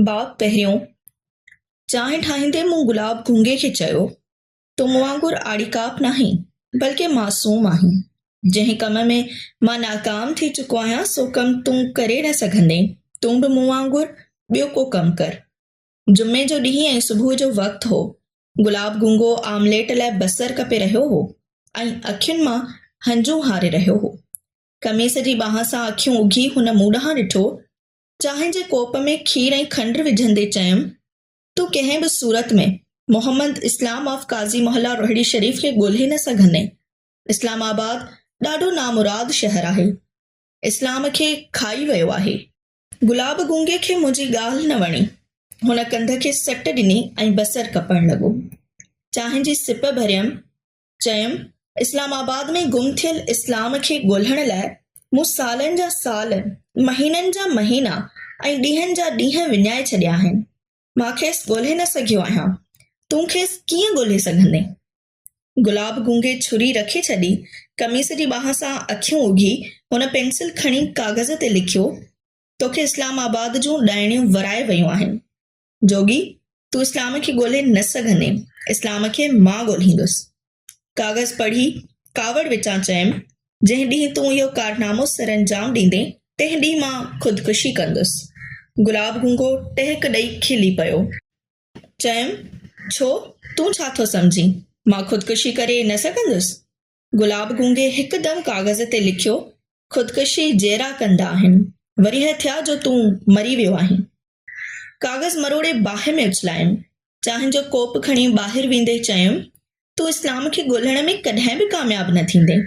باب پهريون، چانهه ٺاهيندي مون گلاب گونگي کي چيو، تون مون وانگر آڙي ڪاپ ناهين، بلڪه معصوم آهين. جنهن ڪم ۾ مان ناڪام ٿي چڪو آهيان، سو ڪم تون ڪري نه سگهندين. تون به مون وانگر ٻيو ڪو ڪم ڪر. جمعي جو ڏينهن ۽ صبح جو وقت هو. گلاب گونگو آمليٽ لاء بصر ڪپي رهيو هو ۽ اکين مان هنجون هاري رهيو هو. قميص جي ٻانهن سان اکيون اگهي هن مون ڏانهن ڏٺو چانهه جي ڪوپ ۾ کير ۽ کنڊ وجهندي چيم، تون ڪنهن به صورت ۾ محمد اسلام آف قاضي محله روهڙي شريف کي ڳولهي نه سگهندين. اسلام آباد ڏاڍو نامراد شهر آهي. اسلام کي کائي ويو آهي. گلاب گونگي کي منهنجي ڳالهه نه وڻي. هن ڪنڌ کي سٽ ڏني ۽ بصر ڪپڻ لڳو. چانهه جي سپ ڀريم چيم، اسلام آباد ۾ گم ٿيل اسلام کي ڳولهڻ لاء مون سالن جا سال، مهينن جا مهينا ۽ ڏينهن جا ڏينهن وڃائي ڇڏيا آهن. مان کيس ڳولهي نه سگهيو آهيان. تون کيس ڪيئن ڳولهي سگهندين؟ گلاب گونگي ڇري رکي ڇڏي، قميص جي ٻانهن سان اکيون اگهي، هن پينسل کڻي ڪاغذ تي لکيو، توکي اسلام آباد جون ڏائڻيون ورائي ويون آهن. جوڳي، تون اسلام کي ڳولهي نه سگهندين، اسلام کي مان ڳولهيندس. ڪاغذ پڙهي، ڪاوڙ وچان چيم، جنهن ڏينهن تون اهو ڪارنامو سرانجام ڏيندين، تنهن ڏينهن مان خودڪشي ڪندس. گلاب گونگو ٽهڪ ڏئي کلي پيو. چيم، ڇو، تون ڇا ٿو سمجهين، مان خودڪشي ڪري نه سگهندس؟ گلاب گونگي هڪدم ڪاغذ تي لکيو، خودڪشي جيئرا ڪندا آهن، ورهيه ٿيا جو تون مري ويو آهين. ڪاغذ مروڙي باهه ۾ اڇلايم. چانهه جو ڪوپ کڻي ٻاهر ويندي چيم، تون اسلام کي ڳولهڻ ۾ ڪڏهن به ڪامياب نه ٿيندين.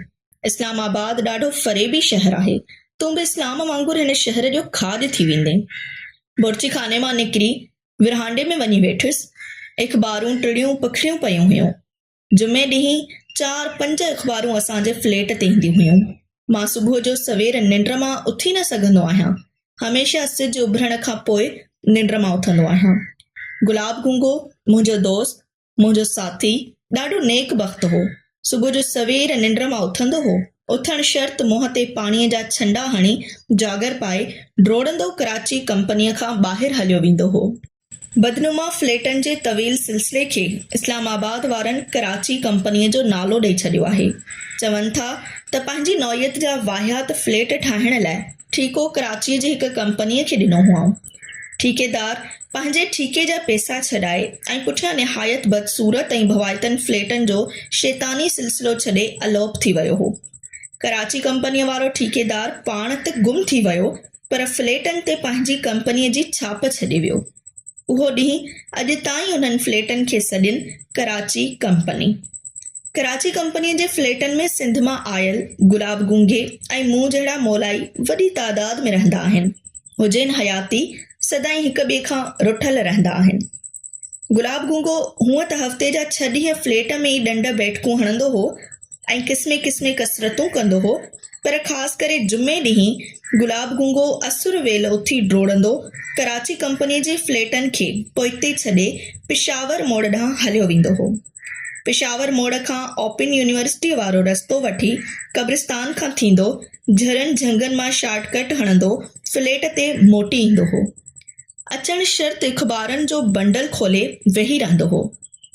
اسلام آباد ڏاڍو فريبي شهر آهي. تون به اسلام وانگر هن شهر جو کاڄ ٿي ويندين. بورچي خاني مان نڪري ورهانڊي ۾ وڃي ويٺس. اخبارون ٽڙيون پکڙيون پيون هيون. جمعي ڏينهن چار پنج اخبارون اسان جي فليٽ تي اينديون هيون. مان صبح جو سوير ننڊ مان اٿي نه سگهندو آهيان. هميشه سج اڀرڻ کان پوء ننڊ مان اٿندو آهيان. گلاب گونگو، منهنجو دوست، منهنجو ساٿي، ڏاڍو نيڪ بخت هو. صبح جو سوير ننڊ مان اٿندو هو. اٿڻ شرط منهن تي پاڻيء جا ڇنڊا هڻي، جاگر پائي، ڊوڙندو ڪراچي ڪمپنيء کان ٻاهر هليو ويندو هو. بدنما فليٽن جي طويل سلسلي کي اسلام آباد وارن ڪراچي ڪمپنيء جو نالو ڏئي ڇڏيو آهي. چون ٿا ته پنهنجي نوعيت جا واهيات فليٽ ٺاهڻ لاء ٺيڪو ڪراچيء جي هڪ ڪمپنيء کي ڏنو هئائون. ٺيڪيدار پنهنجي ٺيڪي جا پئسا ڇڏائي ۽ پٺيان نهايت بدصورت ۽ ڀوائتن فليٽن جو شيطاني سلسلو ڇڏي الوپ ٿي ويو هو. ڪراچي ڪمپنيء وارو ٺيڪيدار پاڻ ته گم ٿي ويو پر فليٽن تي پنهنجي ڪمپنيء جي ڇاپ ڇڏي ويو. اهو ڏينهن اڄ تائين انهن فليٽن کي سڏين ڪراچي ڪمپني. ڪراچي ڪمپنيء جي فليٽن ۾ سنڌ مان آيل گلاب گونگي ۽ مون جهڙا مولائي وڏي تعداد ۾ رهندا آهن. هجين حياتي سدائين هڪ ٻئي کان رٺل رهندا آهن. گلاب گونگو هونء ته هفتي جا ڇهه ڏينهن فليٽ ۾ ئي ڏنڊ بيٺڪون هڻندو هو ۽ قسمين قسمين ڪسرتون ڪندو هو، پر خاص ڪري جمعي ڏينهن گلاب گونگو اسر ويل اٿي ڊوڙندو ڪراچي ڪمپني جي فليٽن کي پوئتي ڇڏي پشاور موڙ ڏانهن هليو ويندو هو. پشاور موڙ کان اوپن يونيورسٽيء وارو رستو وٺي قبرستان کان ٿيندو جھرن جھنگن مان شارٽ ڪٽ هڻندو فليٽ تي موٽي ايندو هو. اچڻ شرط اخبارن جو بنڊل کولي ويهي رهندو هو.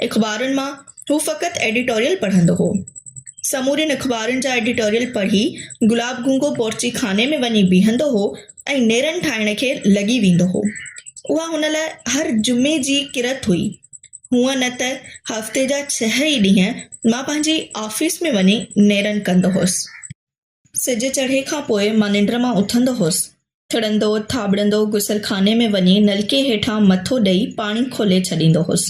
اخبارن مان هو فقط ايڊيٽوريل پڙهندو هو. سمورين اخبارن جا ايڊيٽوريل پڙهي گلاب گونگو بورچي خاني ۾ وڃي بيهندو هو ۽ نيرن ٺاهڻ کي لڳي ويندو هو. اها هن لاء هر جمعي جي ڪرت هئي. هونء نه ته هفتي جا ڇهه ئي ڏينهن مان پنهنجي آفيس ۾ وڃي نيرن ڪندو هوس. سج چڙهي کان پوء مان ننڊ مان اٿندو هوس. ٿڙندو ٿاٻڙندو غسل خاني ۾ وڃي نلڪي هيٺان مٿو ڏئي پاڻي کولي ڇڏيندو هوس.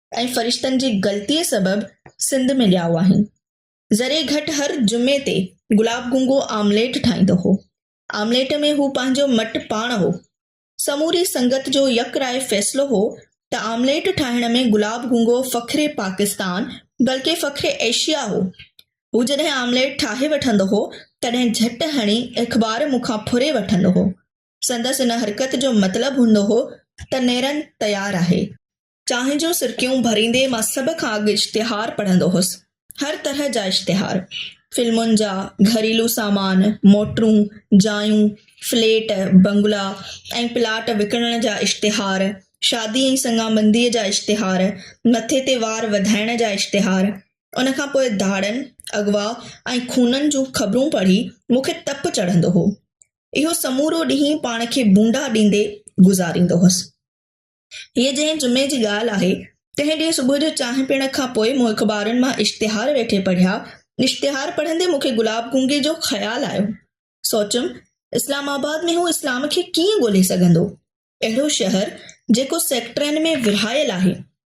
۽ فرشتن جي غلطيء سبب سنڌ ۾ ڄائو آهن. ذري گهٽ هر جمعي تي گلاب گونگو آمليٽ ٺاهيندو هو. آمليٽ ۾ هو پنهنجو مٽ پاڻ هو. سموري سنگت جو يڪ راء فيصلو هو ته آمليٽ ٺاهڻ ۾ گلاب گونگو فخر پاڪستان بلڪه فخر ايشيا هو. هو جڏهن آمليٽ ٺاهي وٺندو هو تڏهن جهٽ هڻي اخبار مون کان ڦري وٺندو هو. سندس ان حرڪت جو مطلب هوندو هو ته نيرن تيار آهي. چانهه جون سرڪيون ڀريندي مان سڀ کان اڳ اشتهار پڙهندو هوس. هر طرح جا اشتهار. فلمن جا، گهريلو سامان، موٽرون، جايون، فليٽ، بنگلا ۽ پلاٽ وڪڻڻ جا اشتهار، شادي ۽ سڱابنديء جا اشتهار، مٿي تي وار وڌائڻ جا اشتهار. ان کان پوء ڌاڙن، اغوا ۽ خونن جون خبرون پڙهي مون کي تپ چڙهندو هو. اهو سمورو ڏينهن پاڻ کي ڀونڊا ڏيندي گذاريندو هوس. هيء جنهن جمعي جي ڳالهه آهي، تنهن ڏينهن صبح جو چانهه پيئڻ کان پوء مون اخبارن مان اشتهار ويٺي پڙهيا. اشتهار پڙهندي مون کي گلاب گونگي جو خيال آيو. سوچيم، اسلام آباد ۾ هو اسلام کي ڪيئن ڳولهي سگهندو؟ اهڙو شهر، جيڪو سيڪٽرن ۾ ورهايل آهي،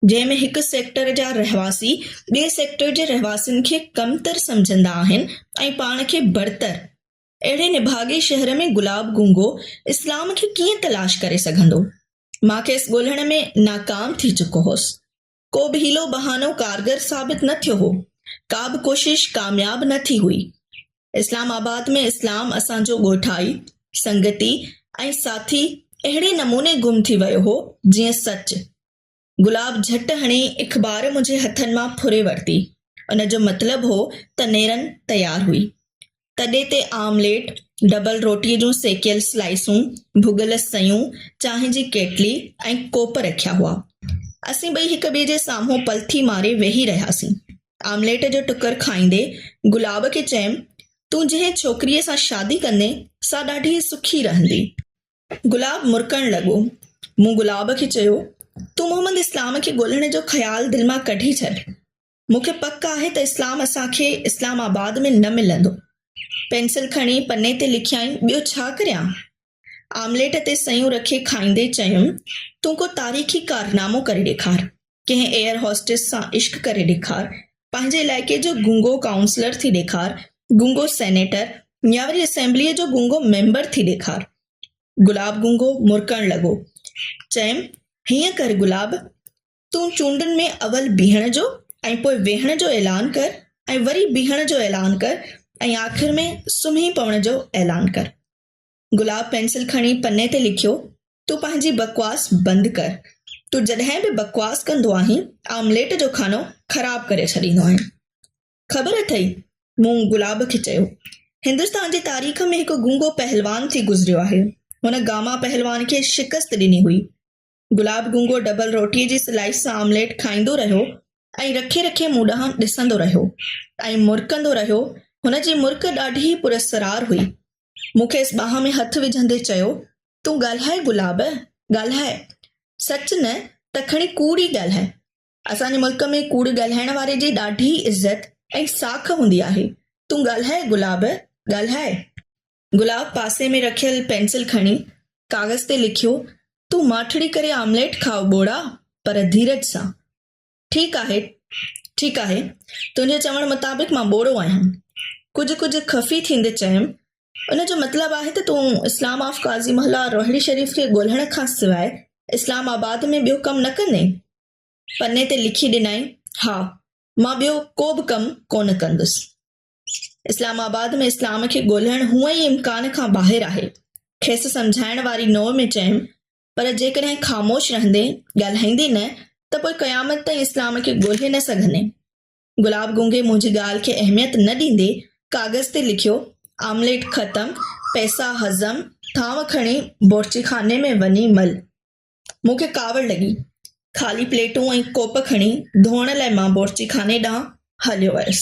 جنهن ۾ هڪ سيڪٽر جا رهواسي ٻئي سيڪٽر جي رهواسين کي ڪمتر سمجهندا آهن ۽ پاڻ کي برتر، اهڙي نڀاڳي شهر ۾ گلاب گونگو اسلام کي ڪيئن تلاش ڪري سگهندو؟ مان کيس ڳولهڻ ۾ ناڪام ٿي چڪو هوس. ڪو به حيلو بهانو ڪارگر ثابت نه ٿيو هو. ڪا به ڪوشش ڪامياب نه ٿي هئي. اسلام آباد ۾ اسلام اسان جو ڳوٺائي، سنگتي ۽ ساٿي اهڙي نموني گم ٿي ويو هو جيئن سچ. گلاب جهٽ هڻي اخبار منهنجي هٿن مان ڦري ورتي. ان جو مطلب هو ته نيرن تيار هئي. تڏي تي آمليٽ، ڊبل روٽيء جون سيڪيل سلائيسون، ڀڳل سيون، چانهه جي ڪيٽلي ۽ ڪوپ رکيا هئا. اسين ٻئي هڪ ٻئي جي سامهون پلٿي ماري ويهي رهياسين. آمليٽ جو ٽڪر کائيندي گلاب کي چيم، تون جنهن ڇوڪريء سان شادي ڪندين، سا ڏاڍي سکي رهندي. گلاب مرڪڻ لڳو. مون گلاب کي چيو، تون محمد اسلام کي ڳولهڻ جو خيال دل مان ڪڍي ڇڏ. مون کي پڪ آهي ته اسلام اسان کي اسلام آباد ۾ نه ملندو. پينسل کڻي پني تي لکيائين، ٻيو ڇا ڪريان؟ آمليٽ تي سيون رکي کائيندي چيم، تون ڪو تاريخي ڪارنامو ڪري ڏيکار. ڪنهن ايئر هوسٽس سان عشق ڪري ڏيکار، پنهنجي علائقي جو گونگو ڪائونسلر ٿي ڏيکار، گونگو سينيٽر يا وري اسيمبليء جو گونگو ميمبر ٿي ڏيکار. گلاب گونگو مرڪڻ لڳو. چيم، هيئن ڪر گلاب، تون چونڊن ۾ اول بيهڻ جو ۽ پوء ويهڻ جو اعلان ڪر ۽ وري بيهڻ جو اعلان ڪر ۽ آخر ۾ سمهي پوڻ جو اعلان ڪر. گلاب پينسل کڻي پني تي لکيو، تون پنهنجي بڪواس بند ڪر. تون جڏهن به بڪواس ڪندو آهين، آمليٽ جو کانو خراب ڪري ڇڏيندو آهين. خبر اٿئي؟ مون گلاب کي چيو. هندستان جي تاريخ ۾ هڪ گونگو پهلوان ٿي گذريو آهي. هن گاما پهلوان کي شڪست ڏني هئي. گلاب گونگو ڊبل روٽيء جي سلائيس سان آمليٽ کائيندو رهيو ۽ رکي رکي مون ڏانهن ڏسندو رهيو ۽ مرڪندو رهيو. هن جي مرڪ ڏاڍي پراسرار هئي. مون کيس ٻانهن ۾ هٿ وجهندي چيو، تون ڳالهاء گلاب، ڳالهاء. سچ نه ته کڻي ڪوڙ ئي ڳالهاء. اسان جي ملڪ ۾ ڪوڙ ڳالهائڻ واري جي ڏاڍي عزت ۽ ساک هوندي آهي. تون ڳالهاء گلاب، ڳالهاء. گلاب پاسي ۾ رکيل پينسل کڻي ڪاغذ تي لکيو، تون ماٺڙي ڪري آمليٽ کاء ٻوڙا، پر ڌيرج سان. ٺيڪ آهي، ٺيڪ آهي، تنهنجي چوڻ مطابق مان ٻوڙو آهيان. ڪجهه ڪجهه خفي ٿيندي چيم، ان جو مطلب آهي ته تون اسلام آف قاضي محله روهڙي شريف کي ڳولهڻ کان سواء اسلام آباد ۾ ٻيو ڪم نه ڪندين؟ پني تي لکي ڏنائين، ها، مان ٻيو ڪو به ڪم ڪونه ڪندس. اسلام آباد ۾ اسلام کي ڳولهڻ هونء ئي امڪان کان ٻاهر آهي. کيس سمجهائڻ واري نوع ۾ چيم، پر جيڪڏهن خاموش رهندين، ڳالهائيندين نه ته پوء قيامت تائين اسلام کي ڳولهي نه سگهندين. گلاب گونگي منهنجي ڳالهه کي اهميت نه ڏيندي ڪاغذ تي لکيو، آمليٽ ختم، پئسا هضم، ٿانو کڻي بورچيخاني ۾ وڃي مل. مون کي ڪاوڙ لڳي. خالي پليٽون ۽ ڪوپ کڻي ڌوئڻ لاء مان بورچي خاني ڏانهن هليو ويس.